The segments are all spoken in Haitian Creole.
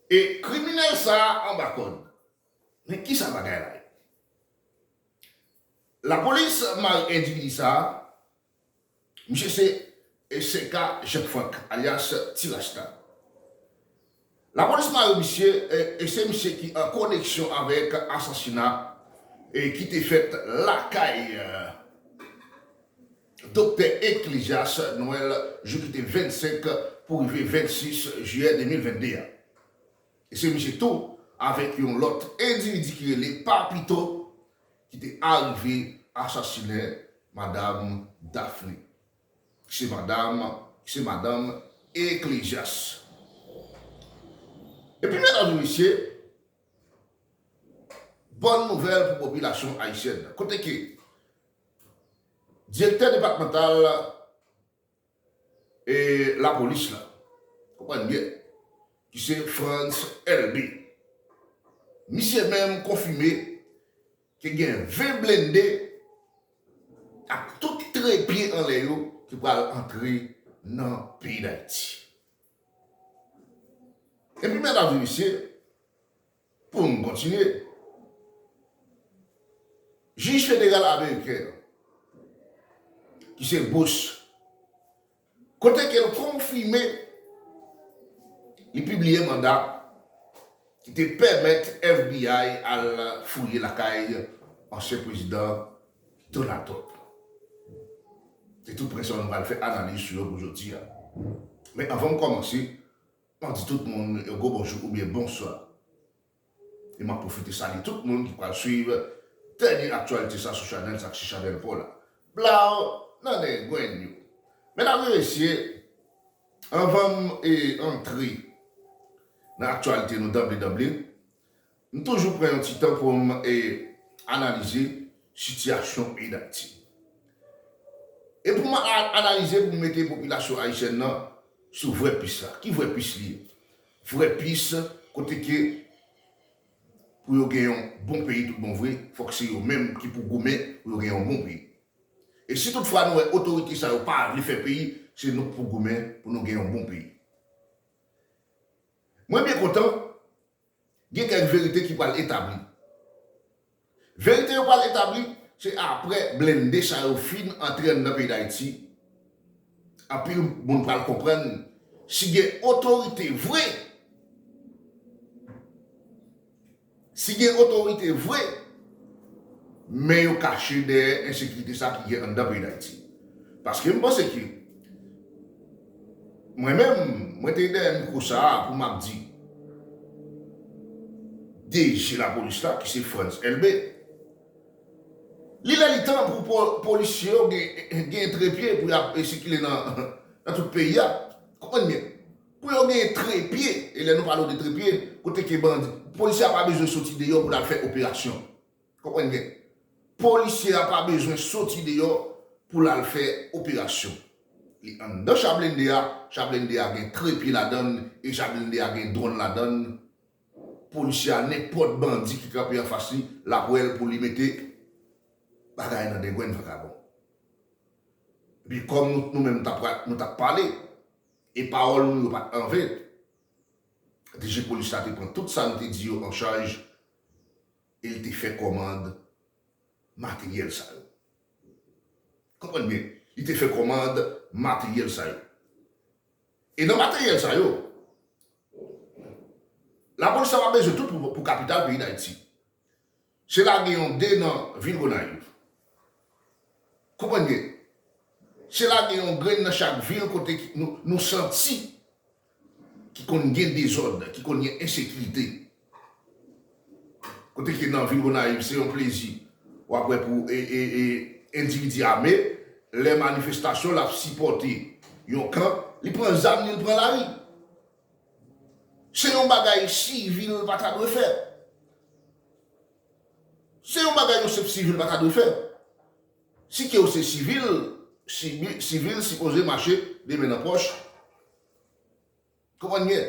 E kriminèl sa a anba kòd. Men kisa bagay la ye? Lapolis mare endividi sa a, misye se SK Jean Franck alyas Ti Rasta. Lapolis mare misye e se misye ki an koneksyon avèk asasina ki te fèt lakay. Doktè Eclesias Noel jou ki te 25 pou rive 26 jiyè 2022 a. E se misye tou avèk yon lòt endividi ki rele Papito ki te arive asasinen madam Daphné ki se madam ki se madanm Eclesias. Epi medam e mesye, bòn nouvèl pou popilasyon ayisyèn nan kote ke Direktè depatmantal lapolis la, konprann byen, ki se Frantz Elbé, misye menm konfime ke gen 20 blende ak tout tre pye anlè yo ki pral antre nan peyi Dayiti. Epi medam e mesye, Pou n kontinye, Jij federal ameriken an, ki se Bush, kote ke l konfime li pibliye manda ki te pèmèt FBI al fouye lakay ansyen prezidan Donald Trump. Se tou pwen sa yo nou pral fè analiz sou yo pou jodi a. Men anvan m kòmanse, Map di tout moun yon gwo bonjou oubyen bonswa e map pwofite salye tout moun ki pral swiv dènye aktyalite sa sou chanèl sa ki se chanèl paw la blaw nan nen gwenn yo medam e mesye anvanm antre nan aktyalite nou danble danble M toujou pran yon ti tan pou m analize sitiyasyon peyi Dayiti. E pou m analize pou m mete popilasyon ayisyèn nan sou vrè pis la. Ki vrè pis li ye? Vrè pis kote ke pou yo gen yon bon peyi tout bon vre, fòk se yo menm ki pou goumen pou yo gen yon bon peyi. E si tout fwa nou wè otorite sa yo pa vle fè peyi, se nou k pou goumen pou nou gen yon bon peyi. Mwen byen kontan. Gen kèk verite ki pral etabli. Verite yo pral etabli, se aprè blende sa yo fin antre anndan peyi Dayiti, anpil moun pral konprann si gen otorite vre, si gen otorite vre, men yo kache dèyè ensekirite sa ki gen anndan peyi Dayiti. Paske m panse ke Mwen menm, mwen te dèyè mikwo sa a pou m ap di DG lapolis la ki se Frantz Elbé, Li lè li tan pou polisye yo gen trepye pou y ap sikile nan tout peyi a. Konprann byen, pou yo gen trepye, e lè nou pale w de trepye, kote ke bandi, polisye a pa bezwen soti deyò pou l al fè operasyon. Konprann byen. Polisye a pa bezwen soti deyò pou l al fè operasyon. Li anndan cha blende a, cha blende a gen trepye ladan l e cha blende a gen dwòn ladan l. Polisye a nenpòt bandi ki kanpe anfas li, l ap wè l pou li mete bagay nan dengwenn vakabon. Epi kòm nou menm nou t ap pale e pawòl nou yo pa t anven, dg polis la te pran tout sa nou te di yo an chaj e l te fè kòmand materyèl sa yo. Konprann byen, li te fè kòmand materyèl sa yo. E nan materyèl sa yo, lapolis ta va bezwen tout pou kapital peyi Dayiti. Se lage yon 2 nan vil Gonayiv. Konprann byen, se lage yon grenn nan chak vil kote nou santi ki konn gen dezòd, ki konn gen ensekirite, kote ke nan vil Gonayiv se yon plezi w ap wè pou endividi ame, lè manifestasyon l ap sipòte yon kan, li pran zam li, li pran lari. Se yon bagay sivil pa ta dwe fè. Se yon bagay yon senp sivil pa ta dwe fè. Si ke w se sivil, sivil sipoze mache de men nan pòch, Konprann byen,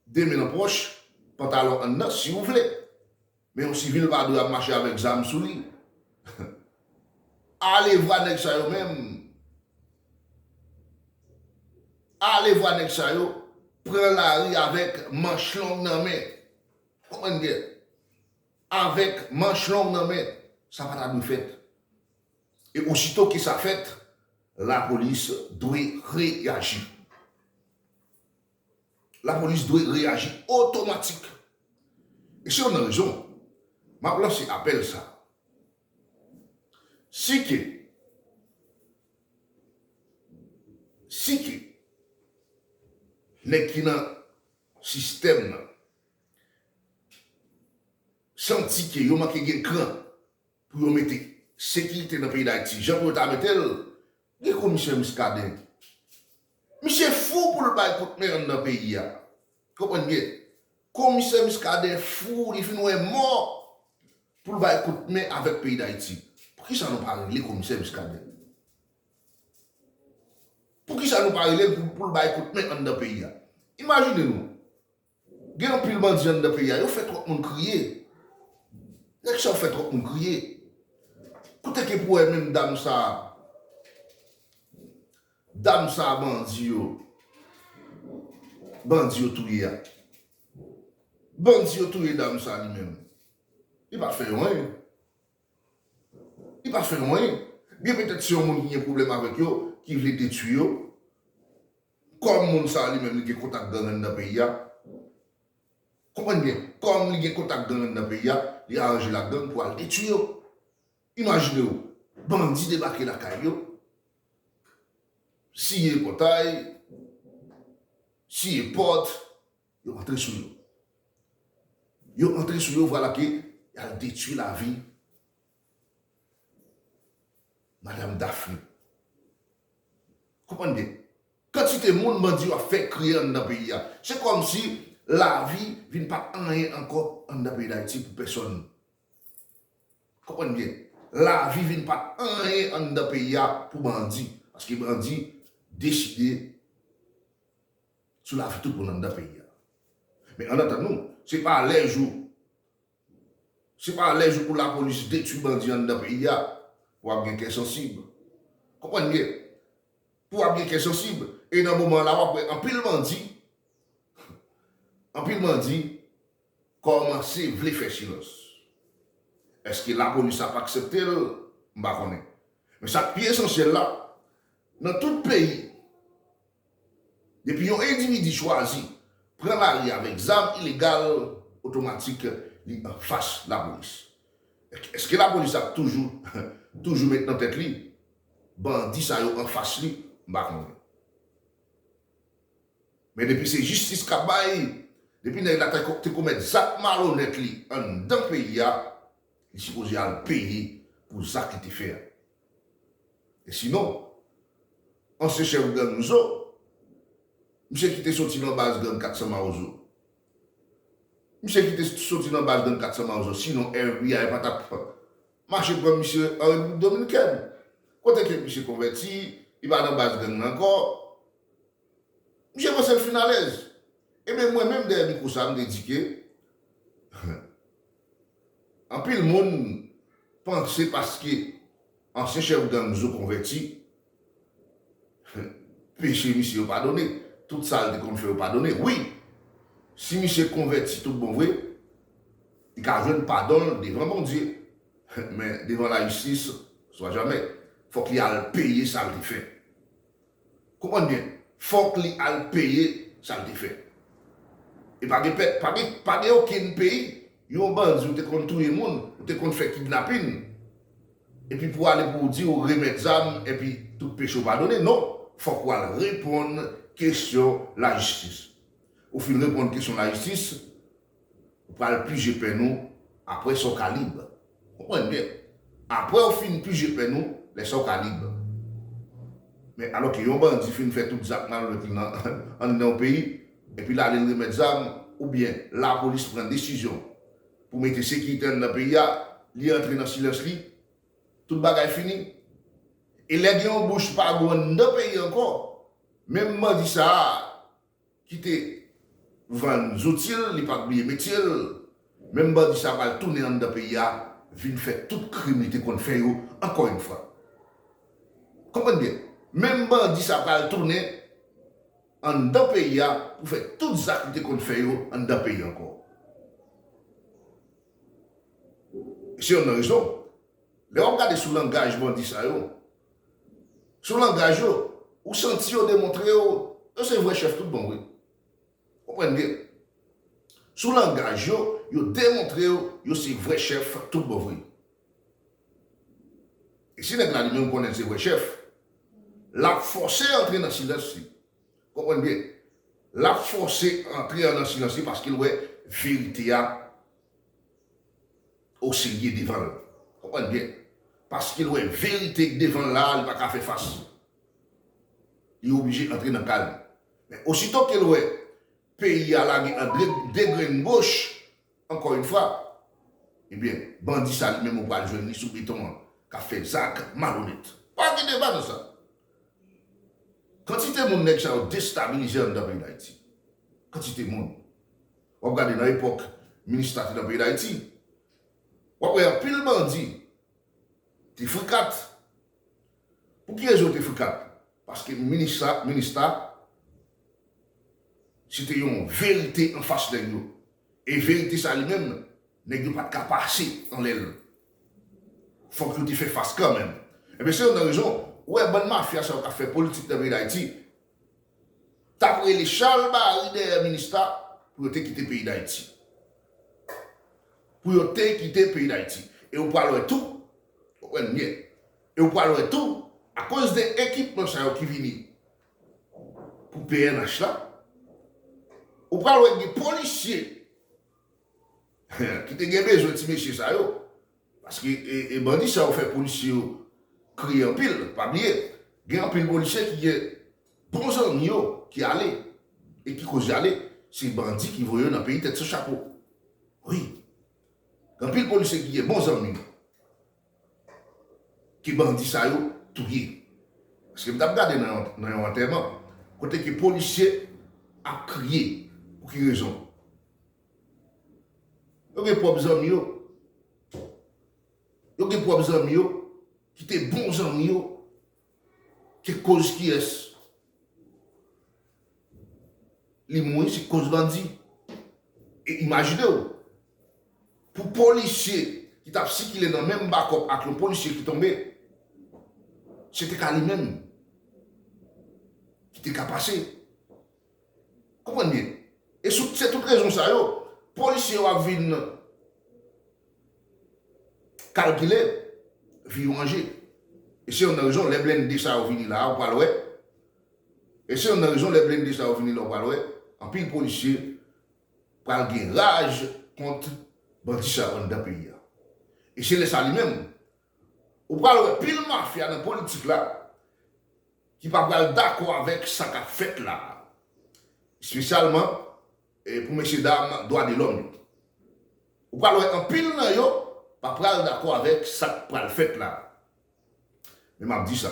de men nan pòch, pantalon anndan si ou vle. Men yon sivil pa dwe ap mache avèk zam sou li. Alevwa nèg sa yo menm, alevwa nèg sa yo pran lari avèk manch long nan men. Konprann byen, avèk manch long nan men. Sa pa ta dwe fèt. E osito ke sa fèt, lapolis dwe reyaji. Lapolis dwe reyaji otomatik. E se youn nan rezon m ap lanse apèl sa a. Si ke, si ke nèg ki nan sistèm nan santi ke yo manke gen kran, Pou yo mete sekirite nan peyi dayiti jan pou yo ta metel gen komisè miskaden misye fou poul bay kout men anndan peyi a konprann byen komisè miskaden fou li fin wè mò poul bay kout men avèk peyi dayiti poukisa nou pa rele komisè miskaden poukisa nou pa relel poul bay kout men anndan peyi a imajine nou. Gen anpil bandi anndan peyi a yo fè tròp moun kriye nèg sa yo fè tròp moun kriye kote ke pou wè menm dam sa dam sa bandi yo bandi yo touye a bandi yo touye dam sa li menm li pa fè yo anyen li pa fè yo anyen byen petèt se yon moun ki gen pwoblèm avèk yo ki vle detwi yo. Kòm moun sa li menm li gen kontak gang anndan peyi a, konprann byen, kòm li gen kontak gang anndan peyi a, li aranje l ak gang pou al detui yo. Imajine w, bandi debake lakay yo, siye pòtay, siye pòt, yo antre sou yo. Yo antre sou yo, vwala ke y al detui lavi. Madam Daphne. Konprann byen. Kantite moun bandi yo ap fè kriye anndan peyi a. Se kòm si lavi vin pa anyen ankò anndan peyi Dayiti pou pèsòn. Konprann byen. Lavi vin pa anyen anndan peyi a pou bandi. Paske bandi deside sou lavi tout moun anndan peyi a. Men ann atann nou. Se pa lè jou. Se pa lè jou pou lapolis detwi bandi anndan peyi a pou ap gen kè sansib. Konprann byen. Pou ap gen kè sansib e nan moman la wap wè anpil bandi anpil bandi kòmanse vle fè silans. Eske lapolis ap aksepte l? M pa konnen. Men sa k pi esansyèl la, nan tout peyi Depi yon endividi chwazi pran lari avèk zam ilegal, otomatik li anfas lapolis. Eske lapolis ap toujou toujou met nan tèt li bandi sa yo anfas li, m pa konnen. Men depi se jistis k ap bay, depi nèg la te komèt zak malonèt li anndan peyi a, Li sipoze al peye pou zak li te fè a. E sinon, ansyen chèf gang Mzo, misye ki te soti lan baz gang 400 Mawozo, misye ki te soti lan baz gang 400 Mawozo, sinon FBI pa tap mache pran misye an Repiblik Dominikèn, kote ke misye konvèti, li pa lan baz gang lan ankò. Misye panse l fin alèz. Enben mwen menm dèyè mikwo sa a m te di ke, Anpil moun panse paske ansyen chèf gang zo konvèti, peche misye yo padone, tout sa l te konn fè yo padone. Wi, si misye konvèti tout bon vre, li ka jwenn padon l devan Bondye, men devan lajistis, swa jamè. Fòk li al peye sa l te fè. Konprann byen fòk li al peye sa l te fè. E pa gen pèp, pa gen, pa gen okenn peyi. Yon bandi ou te konn touye moun, ou te konn fè kidnapin, epi pou w ale pou w di ou remèt zam epi tout peche w padone. Non, fòk w al reponn kesyon lajistis. Ou fin reponn kesyon lajistis. Ou pral pije pen nou apre sa w ka lib. Konprann byen. Apre w fin pije pen nou, lè sa w ka lib. Men, alò ke yon bandi fin fè tout zak malonèt li nan anndan yon peyi, epi l ale l remèt zam, oubyen lapolis pran desizyon pou mete sekirite anndan peyi a, li antre nan silans li, tout bagay fini. E lè gen yon bouch pa gou anndan peyi ankò, menm bandi sa a, ki te vann zouti l, li pa bliye metye l, menm bandi sa pral tounen anndan peyi a vin fè tout krim li te konn fè yo ankò yon fwa. Konprann byen, menm bandi sa pral tounen anndan peyi a pou fè tout zak li te konn fè yo anndan peyi a ankò. E se yonn nan rezon, lè w ap gade sou langaj bandi sa yo, Sou langaj yo, ou santi yo demontre yo, yo se vrè chèf tout bon vre. Konprann byen. Sou langaj yo, yo demontre yo, yo se vrè chèf tout bon vre. E si nèg la li menm konnen l se vrè chèf, l ap fòse antre nan silans li. Konprann byen. L ap fòse antre an nan silans li paske l wè verite a. O serye devanl konprann byen paskel wè verite k devanl la li paka fè fas li oblije antre nan kal li men osito kel wè peyi a lage an degrenn goch ankò yn fwa ebyen bandi sa li menm ou pral jwenn li sou beton an kap fè zak malonèt pa gen deba nan sa kantite moun nèg sa yo destabilize anndan peyi dayiti kantite moun W ap gade nan epòk Minista te nan peyi Dayiti, w ap wè anpil bandi te frikat. Pou ki rezon yo te frikat? Paske Minista, Minista se te yon verite anfas nèg yo. E verite sa li menm, nèg yo pa t ka pase anlè l. Fòk yo te fè fas kanmenm. Enben se youn nan rezon ou wè bann mafya sa yo k ap fè politik nan peyi Dayiti, t ap rele chalbari dèyè minista pou yo te kite peyi Dayiti. Pou yo te kite peyi Dayiti. E ou pral wè tou, wap wè limyè, e ou pral wè tou, akoz de ekipman sa yo ki vini pou pnh la, ou pral wè gen polisye ki te gen bezwen ti mesye sa yo, Paske e bandi sa yo fè polisye yo kriye anpil, pa bliye gen anpil polisye ki gen bon zanmi yo ki ale e ki koz yale se bandi ki voye yo nan peyi tèt san chapo wi gen anpil polisye ki gen bon zanmi yo ke bandi sa yo touye paske m tap gade nan yon antèman kote ke polisye ap kriye pou ki rezon. Yo gen pwòp zanmi yo. Yo gen pwòp zanmi yo ki te bon zanmi yo ki koz kiyès li mouri se koz bandi. E imajine w pou polisye ki t ap sikile nan menm bakòp ak yon polisye ki tonbe se te ka li menm ki te ka pase. Konprann byen. E sou se tout rezon sa yo, polisye yo ap vin kalkile vi yo anje. E se youn nan rezon lè blende sa yo vini la a ou pral wè, e se youn nan rezon lè blende sa yo vini la ou pral wè, anpil polisye pral gen raj kont bandi sa yo anndan peyi a. E se lè sa li menm Ou pral wè pil mafya nan politik la ki pa pral dakò avèk sa kap fèt la a. Espesyalman pou mesye dam dwa de lòm yo. Ou pral wè anpil nan yo pa pral dakò avèk sak pral fèt la a. Men map di sa.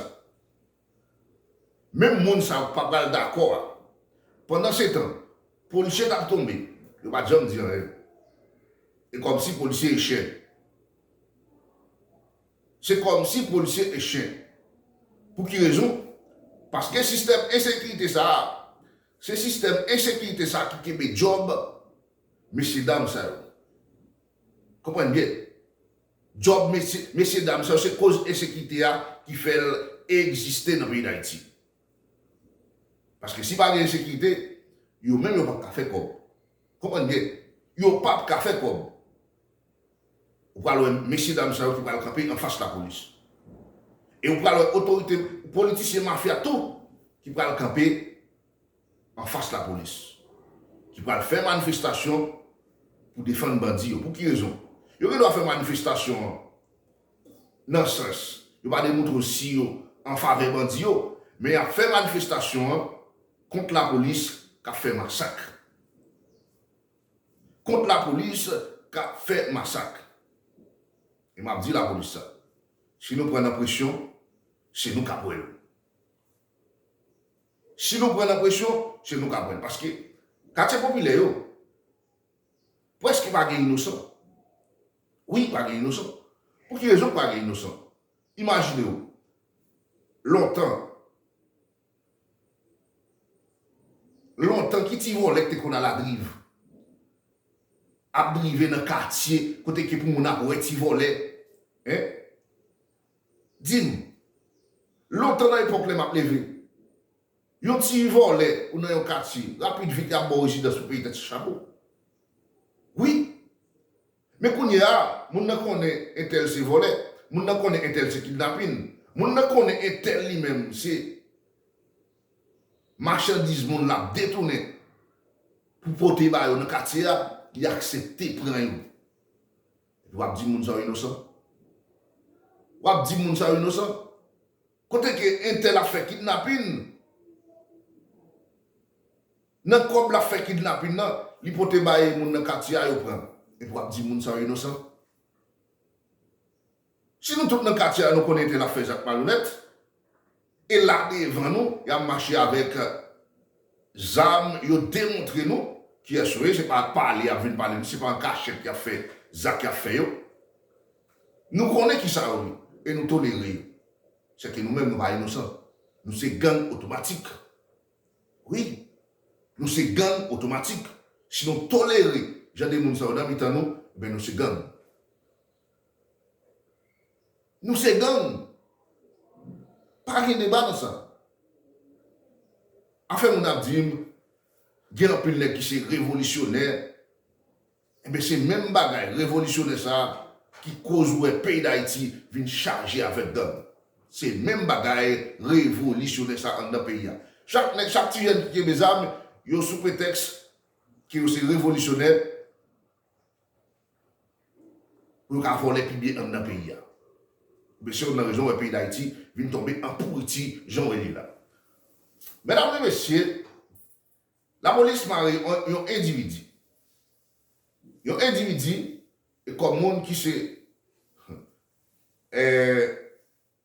Menm moun sa yo pa pral dakò a. Pandansetan, polisye t ap tonbe, yo pa t janm di anyen. E kòmsi polisye e chen. Se kòmsi polisye e chen. Pou ki rezon? Paske sistèm ensekirite sa a, se sistèm ensekirite sa a ki kenbe djòb mesyedam sa yo. Konprann byen. Job mesye mesye dam sa yo se koz ensekite a ki fèl egziste nan peyi dayiti paske si pa gen ensekite yo menm yo pap ka fè kòb konprann byen yo pap ka fè kòb ou pral wè mesye dam sa yo ki pral kanpe anfas lapolis e ou pral wè otorite politisyen mafya tou ki pral kanpe anfas lapolis ki pral fè manifestasyon pou defann bandi yo. Pou ki rezon? Yo gen dwa fè manifestasyon an nan sans yo pa demoutre si yo an favè bandi yo, men y ap fè manifestasyon an kont lapolis k ap fè masak. Kont lapolis k ap fè masak. E m ap di lapolis sa, si nou pran nan presyon, se nou k ap wè l. Si nou pran nan presyon, se nou k ap pran. Paske katye popilè yo, prèske pa gen inosan. Wi, pa gen inosan. Pou ki rezon pa gen inosan? Imajine w, lontan, lontan, ki ti vòlè ki te konn aladriv, ap drive nan katye kote ke pou moun ap wè ti vòlè? Hein? Di m, lontan nan epòk lè m ap leve, yon ti vòlè ou nan yon katye, rapid vit y ap ba w rezidans pou peye tèt sou chapo. Wi. Men kounye a, moun nan konnen entèl se vòlè, moun nan konnen entèl se kidnapin, moun nan konnen entèl li menm se machandiz moun l ap detounen pou pote ba yo nan katye a, li aksepte pran yo. Epi wap di moun sa yo inosan? Wap di moun sa yo inosan? Kote ke entèl ap fè kidnapin? Nan kòb lap fè kidnapin nan, li pote bay moun nan katye a yo pran. Epi wap di moun sa yo inosan? Si nou tout nan katye a nou konnen entèl ap fè zak malonèt. E la devan nou, y ap mache avèk zam, yo demontre nou kiyès yo ye, se pa ak pale y ap vin pale nou, se pa an kachèt y ap fè zak y ap fè yo. Nou konnen ki sa yo ye e nou tolere yo. Sèke nou menm nou pa inosan. Nou se gang otomatik. Wi, nou se gang otomatik. Si nou tolere jan de moun sa yo nan mitan nou, enben nou se gang. Nou se gang. Pa gen deba nan sa. Afè moun ap di m gen anpil nèg ki se revolisyonè, enben se menm bagay revolisyonè sa ki koz ou wè peyi Dayiti vin chaje avèk gang. Se menm bagay revolisyonè sa anndan peyi a. Chak nèg, chak ti jèn ki kenbe zam yo sou pretèks ke yo se revolisyonè, Pou yo ka vòlè pi byen anndan peyi a. Ebyen se youn nan rezon wè peyi Dayiti vin tonbe an pouriti jan w wè li la. Medam e mesye, lapolis mare yon endividi. Yon endividi kòm moun ki se.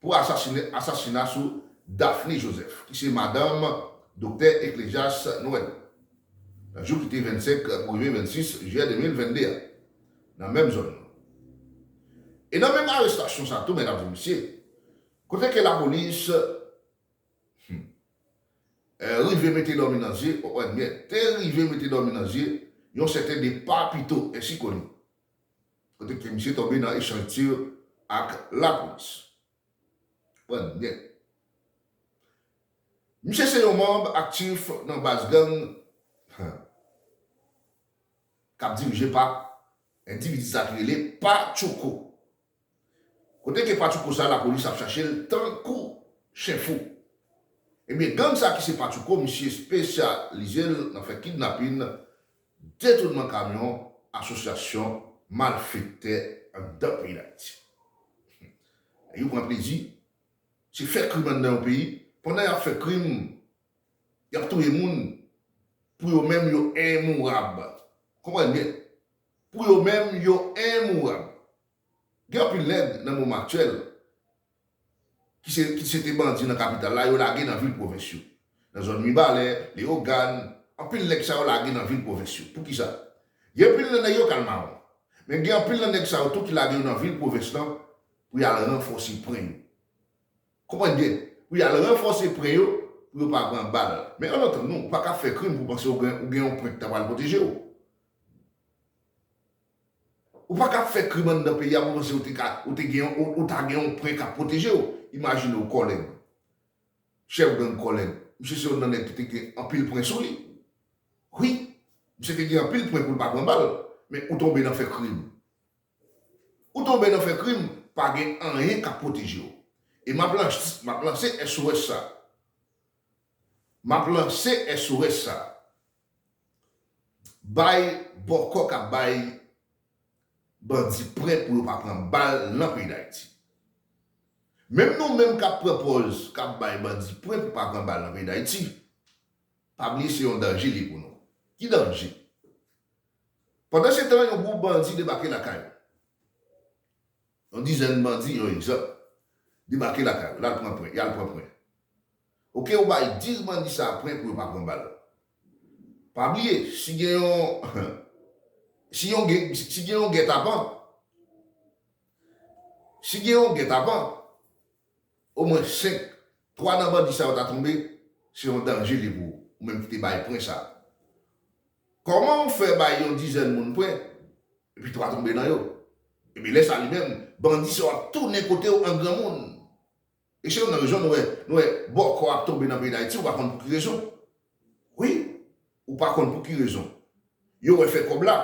pou asasina sou Daphne Joseph ki se madanm Doktè Eclesias Noël nan jou ki te 25 pou rive 26 Jiyè 2022 a nan menm zòn nan. E nan menm arestasyon sa tou medam e mesye kote ke lapolis hum rive mete dòmi nan zye, oh anmyèd, te rive mete dòmi nan zye yon sèten de Papito Ensikoli Kote ke misye tonbe nan echanj tir ak lapolis. Pran nèt. Misye se yon manb aktif nan baz gang kap dirije pa endividi sa ki rele Pa Tchoko. Kote ke patchouko sa lapolis ap chache l tankou chen fou. Ebyen gang sa ki se patchouko misye espesyalize l nan fè kidnapin, detounman kamyon, asosyasyon malfektè anndan peyi dayiti. Nèg yo pran plezi se fè krim anndan yon peyi pandan yap fè krim yap touye moun pou yo menm yo enmourab. Konprann byen. Pou yo menm, yo enmourab. Gen anpil nèg nan moman aktyèl ki se ki se te bandi nan kapital la, yo lage nan vil pwovens yo. Nan zòn Mibalè, Leyogàn, anpil nèg sa yo lage nan vil pwovens yo. Pou ki sa? Gen anpil nan nèg yo k al mawon. Men gen anpil nan nèg sa yo tou ki lage yo nan vil pwovens lan pou y al ranfòse pwen yo. Konprann byen, pou y al ranfòse pwen yo pou yo pa pran bal. Men ann antann nou, ou pa ka fè krim pou w panse ou gen ou gen yon pwen ki ta pral pwoteje w. Ou pa ka ap fè krim anndan peyi a pou w panse ou te ka, ou te gen, ou ta gen yon pwen k ap pwoteje w. Imajine w Kòlèn, chèf gang Kòlèn. Misye se yon nan nèg ki te gen anpil pwen sou li. Wi, misye te gen anpil pwen pou l pa pran bal. Men ou tonbe nan fè krim. Ou tonbe nan fè krim, pa gen anyen k ap pwoteje w. E m ap lanse, m ap lanse SOS sa a. M ap lanse SOS sa a. Bay bòkò ka bay bandi prè pou yo pa pran bal lan peyi Dayiti. Menm nou menm kap pran pòz kap bay bandi prè pou pa pran bal lan peyi Dayiti, pa bliye se yon danje li pou nou. Ki danje? Pandan se tan yon gwoup bandi debake lakay ou. Yon dizèn bandi, yon egzanp, debake lakay ou, lal pran prè, yal pran prè. Ok ou bay 10 bandi sa pwen pou yo pa pran bal. Pa bliye si gen yon si yon gen si gen yon gètapan si gen yon gètapan o mwen 5 3 nan bandi sa yo ta tonbe se yon danje li pou ou menm ki te bay pwen sa. Kòman ou fè bay yon dizèn moun pwen epi 3 tonbe nan yo. Ebyen lè sa li menm bandi sa yo ap tounen kote ou an granmoun. Mesye nou nan rezon nou wè nou wè bòkò ap tonbe nan peyi dayiti ou pa konn pou ki rezon wi ou pa konn pou ki rezon yo wè fè kòb la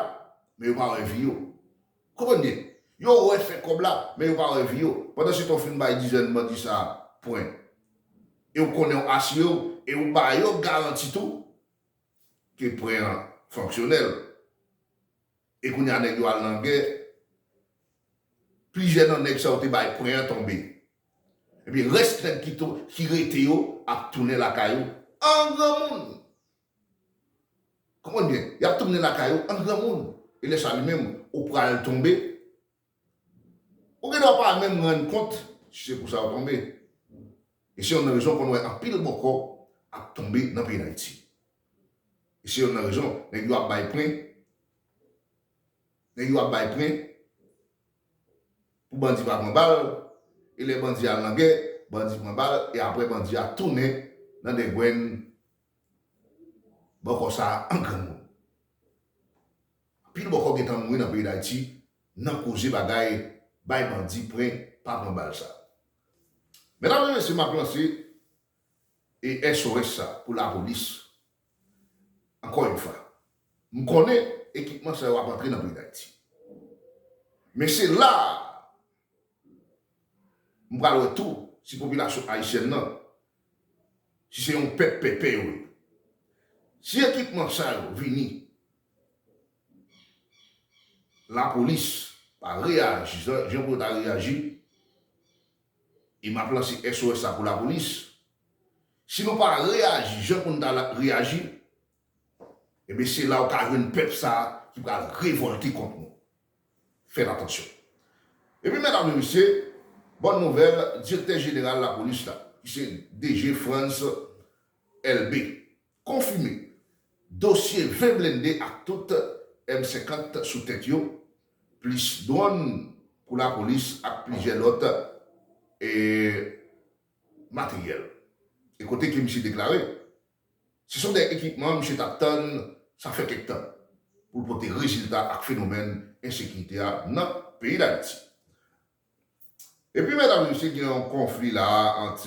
men yo pa wè vi yo ou konprann byen yo wè fè kòb la men yo pa wè vi yo pandan se tan ou fin bay dizèn bandi sa pwen e ou konnen ou asire ou e ou ba yo garanti tou ke pwen an fonksyonèl. E kounya nèg yo al nan gè, plizyè nan nèg sa yo te bay pwen an tonbe. Epi rès nèg ki to, ki rete yo ap tounen lakay yo an granmoun. Konprann byen, y ap tounen lakay yo an granmoun. E lè sa li menm, ou pral tonbe. Ou gen dwa pa menm rann kont si se pou sa ou tonbe. E se yonn nan rezon ou konn wè anpil bòkò ap tonbe nan peyi Dayiti. E se yonn nan rezon nèg yo ap bay pren, nèg yo ap bay pren pou bandi pa pran bal, e lè bandi al nan gè, bandi pran bal e aprè bandi a tounen nan dengwenn bòkò sa an granmoun. Anpil bòkò gentan mouri nan peyi dayiti nan koze bagay bay bandi pren pa pran bal sa. Medam e mesye map lanse e SOS sa pou lapolis ankò yn fwa. M konnen ekipman sa yo ap antre nan peyi dayiti. Men se la a m pral wè tou si popilasyon ayisyèn nan si se yon pèp pèpè yo ye. Si ekipman sa yo vini. Lapolis pa reyaji jan pou yo ta reyaji e m ap lanse SOS sa pou lapolis, si nou pa reyaji jan pou n ta reyaji enben se la ou ka jwenn pèp sa ki pral revòlte kont nou. Fèt atansyon. Epi medam e mesye, bòn nouvèl, direktè jeneral lapolis la ki se DG Frantz Elbé Konfime, dosye 20 blende ak tout M 50 sou tèt yo, plis dwòn pou lapolis ak plizyè lòt materyèl. E kote ke misye deklare, se son de ekipman misye tap tann sa fè kèk tan, pou l pote rezilta ak fenomèn ensekirite a nan peyi Dayiti. Epi medam mesye gen yon konfli la a ant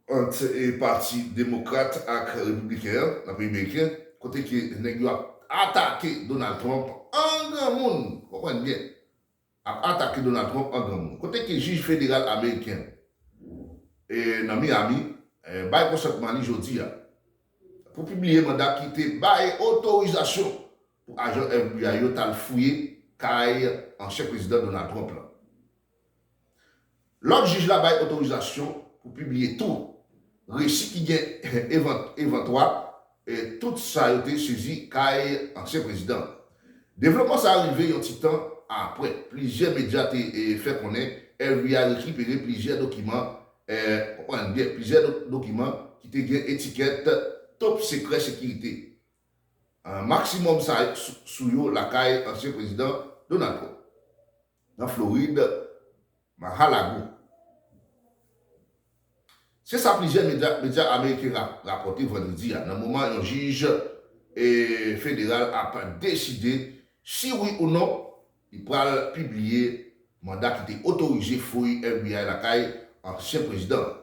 ant pati demokrat ak repibliken an nan peyi meriken kote ke nèg yo ap atake Donald Trump an granmoun konprann byen ap atake Donald Trump an granmoun kote ke jij federal ameriken e nan Miami bay konsantman li jodi a pou pibliye manda ki te bay otorizasyon pou ajan FBI yo t al fouye kay ansyen Prezidan Donald Trump la. Lòd jij la bay otorizasyon pou pibliye tou resi ki gen evantwa tout sa yo te sezi kay ansyen prezidan an. Devlopman sa a rive yon ti tan apre plizyè medya te fè konnen FBI rekipere plizyè dokiman konprann byen, plizyè dokiman ki te gen etikèt Top Secret Security maksimòm sa sou yo lakay ansyen prezidan Donald Trump nan Florid, Mar-a-Lago. Se sa plizyè medya ameriken rapòte vandredi a nan moman yon jij federal ap deside si wi ou non li pral pibliye manda ki te otorize fouy FBI lakay ansyen prezidan an.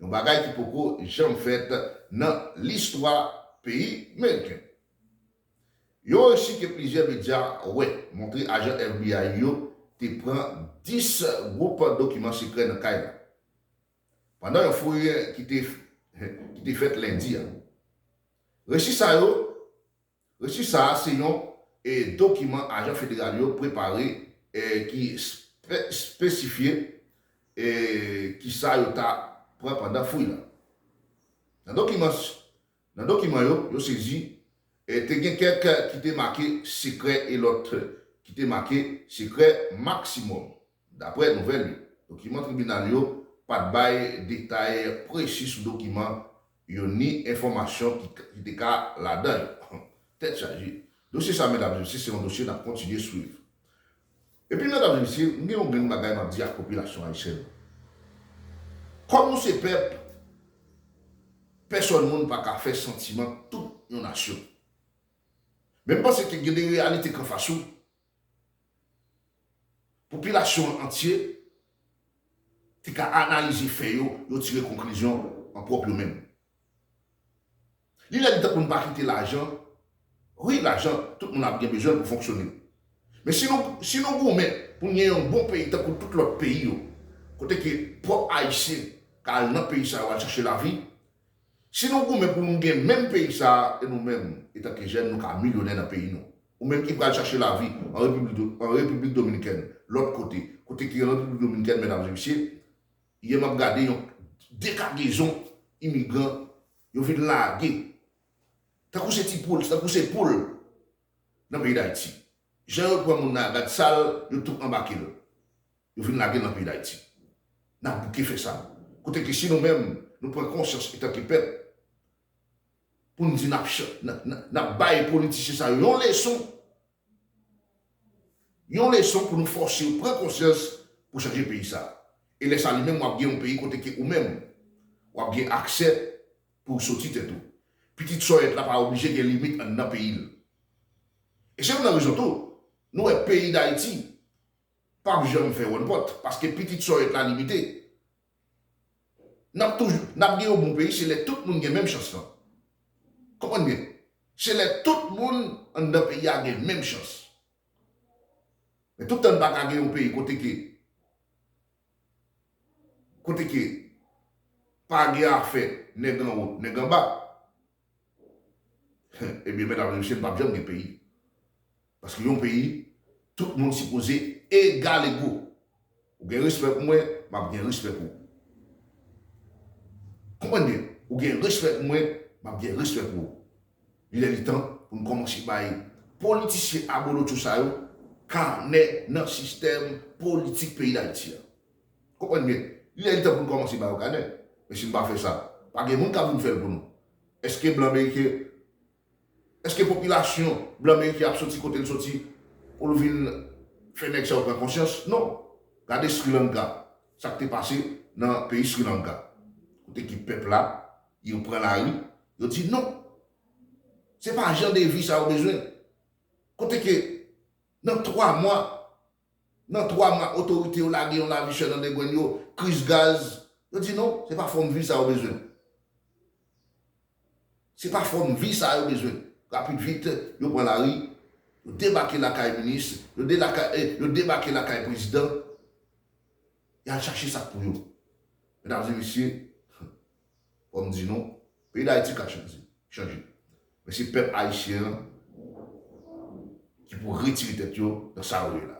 Yon bagay ki poko janm fèt nan listwa peyi meriken. Yon resi ke plizyè medya wè montre ajan FBI yo te pran 10 gwoup dokiman sekrè nan kay la pandan yon fouy ki te fèt lendi a. Resi sa yo Resi sa a se yon dokiman ajan federal yo prepare ki espesifye ki sa yo ta pran pandan fouy la. Nan dokiman yo, yo sezi, te gen kèk ki te make sekrè e lòt ki te make sekrè maksimòm. Daprè nouvèl yo, dokiman tribinal yo pa t bay detay presi sou dokiman yo ni enfòmasyon ki te ka ladan yo. Tèt chaje! Dosye sa Mèt Abdelcir se yon dosye n ap kontinye swiv. Epi Mèt Abdelcir, m gen yon grenn bagay m ap di ak popilasyon ayisyèn nan. Kòm nou se pèp, pèsòn moun pa ka fè santiman tout yon nasyon. Men m panse ke gen de reyalite k anfas ou Popilasyon an antye te ka analize fè yo, yo tire konklizyon an pwòp yo menm. Li lè li tan pou n pa kite lajan, wi lajan, tout moun ap gen bezwen l pou fonksyone. Men si nou si nou goumen pou n gen yon bon peyi tankou tout lòt peyi yo, kote ke pwòp Ayisyen ka al nan peyi sa yo al chache lavi, si nou goumen pou nou gen menm peyi sa a e nou menm etanke jèn nou ka milyonè nan peyi nou. Ou menm ki pral chache lavi an Repiblik Dominikèn, lòt kote, kote ki an Repiblik Dominikèn medam e mesye, yè map gade yon dekagezon imigran yo vin lage tankou se ti poul, tankou se poul nan peyi Dayiti. Jan yo pran moun nan a gad sal, yo tou anbake l, yo vin lage l nan peyi Dayiti. Nap bouke fè sa. Kote ke si nou menm nou pran konsyans etanke pèp, pou n di n ap bay politisyen sa yo yon leson, yon leson pou nou fòse yo pran konsyans pou chanje peyi sa. E lè sa li menm w ap gen yon peyi kote ke ou menm w ap gen aksè pou w soti tèt ou. Pitit sòyèt la pa oblije gen limit anndan peyi l. E se youn nan rezon tou nou wè peyi Dayiti p ap janm fè wònpòt paske pitit sòyèt la limite. Nap toujou nap gen yon bon peyi se lè tout moun gen menm chans lan. Konprann byen. Se lè tout moun anndan peyi a gen menm chans. Men tout tan n pa ka gen yon peyi kote ke kote ke pa gen afè nèg anwo, nèg anba. Ebyen medam e mesye n pap janm gen peyi paske yon peyi tout moun sipoze egal ego ou gen respè pou mwen map gen respè pou ou konprann byen ou gen respè pou mwen map gen respè pou ou li lè li tan pou n kòmanse bay politisyen abolotcho sa yo kanè nan sistèm politik peyi dayiti an. Konprann byen, li lè li tan pou n kòmanse ba yo kanè. Men si n pa fè sa, pa gen moun k ap vin fè l pou nou. Èske blan meriken, èske popilasyon blan meriken ap soti kote l soti pou l vin fè nèg sa yo pran konsyans? Non. Gade Sri Lanka, sa k te pase nan peyi Sri Lanka. Kote ki pèp la, yo pran lari, yo di non! Se pa jan de vi sa yo bezwen. Kote ke nan twa mwa, Nan 3 mwa otorite yo lage yon lavi chè nan degwenn yo, kriz gaz, yo di non, se pa fòm vi sa yo bezwen. Se pa fòm vi sa yo bezwen. Rapid vit, yo pran lari, yo debake lakay minis, yo debake lakay prezidan, y al chache sa k pou yo. Medam e mesye, Fò m di nou, peyi Dayiti ka chanje. Men se pèp ayisyen an ki pou retire tèt yo nan sa yo ye la.